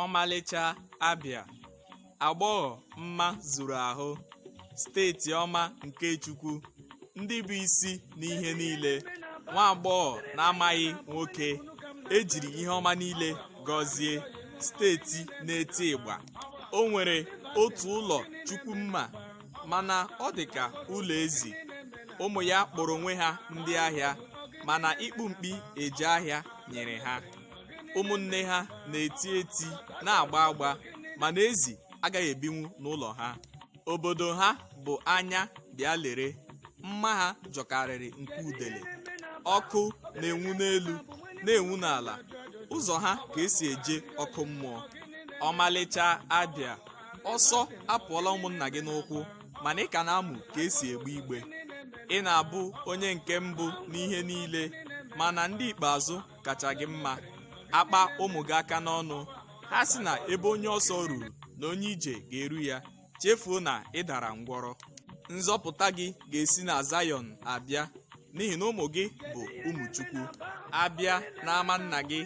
ọmalịcha abịa agbọghọ mma zuru ahụ steeti ọma nke chukwu ndị bụ isi n'ihe niile nwa agbọghọ na-amaghị nwoke ejiri ihe ọma niile gọzie steeti na-eti ịgba o nwere otu ụlọ chukwu mma mana ọ dị ka ụlọ ezi ụmụ ya kpọrọ onwe ha ndị ahịa mana ịkpụ mkpi eje ahịa nyere ha ụmụnne ha na-eti eti na-agba agba mana ezi agaghị ebinwu n'ụlọ ha obodo ha bụ anya bịa lere mma ha jọkarịrị nke udele ọkụ na-enwu n'elu na-enwu n'ala ụzọ ha ka esi eje ọkụ mmụọ ọmalịcha abịa ọsọ apụọla ụmụnna gị n'ụkwụ mana ị ka na-amụ ka esi egbe igbe ị na-abụ onye nke mbụ n'ihe niile mana ndị ikpeazụ kacha gị mma akpa ụmụ gị aka n'ọnụ ha sị na ebe onye ọsọ ruru na onye ije ga-eru ya chefuo na ị dara ngwọrọ nzọpụta gị ga-esi na Zayọn abịa n'ihi na ụmụ gị bụ ụmụ Chukwu abịa n'ama nna gị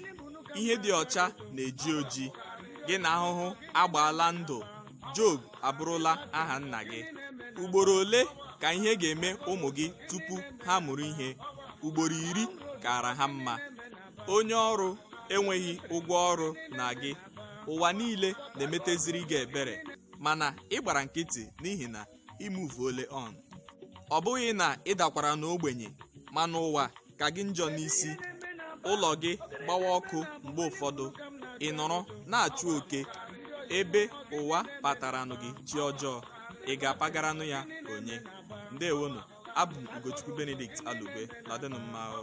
ihe dị ọcha na-eji oji gị na ahụhụ agbaala ndụ Job abụrụla aha nna gị ugboro ole ka ihe ga-eme ụmụ gị tupu ha mụrụ ihe ugboro iri kara ha mma onye ọrụ enweghị ụgwọ ọrụ na gị ụwa niile na-emeteziri gị ebere mana ị gbara nkịtị n'ihi na i move-uole on ọ bụghị na ị dakwara n'ogbenye mana ụwa ka gị njọ n'isi ụlọ gị gbawa ọkụ mgbe ụfọdụ ị nọrọ na-achụ oke ebe ụwa pataranụ gị chi ọjọọ ị ga-apagaranụ ya onye ndewonụ abụ m ugochukwu benedict alugbe na-adịnụ mma o.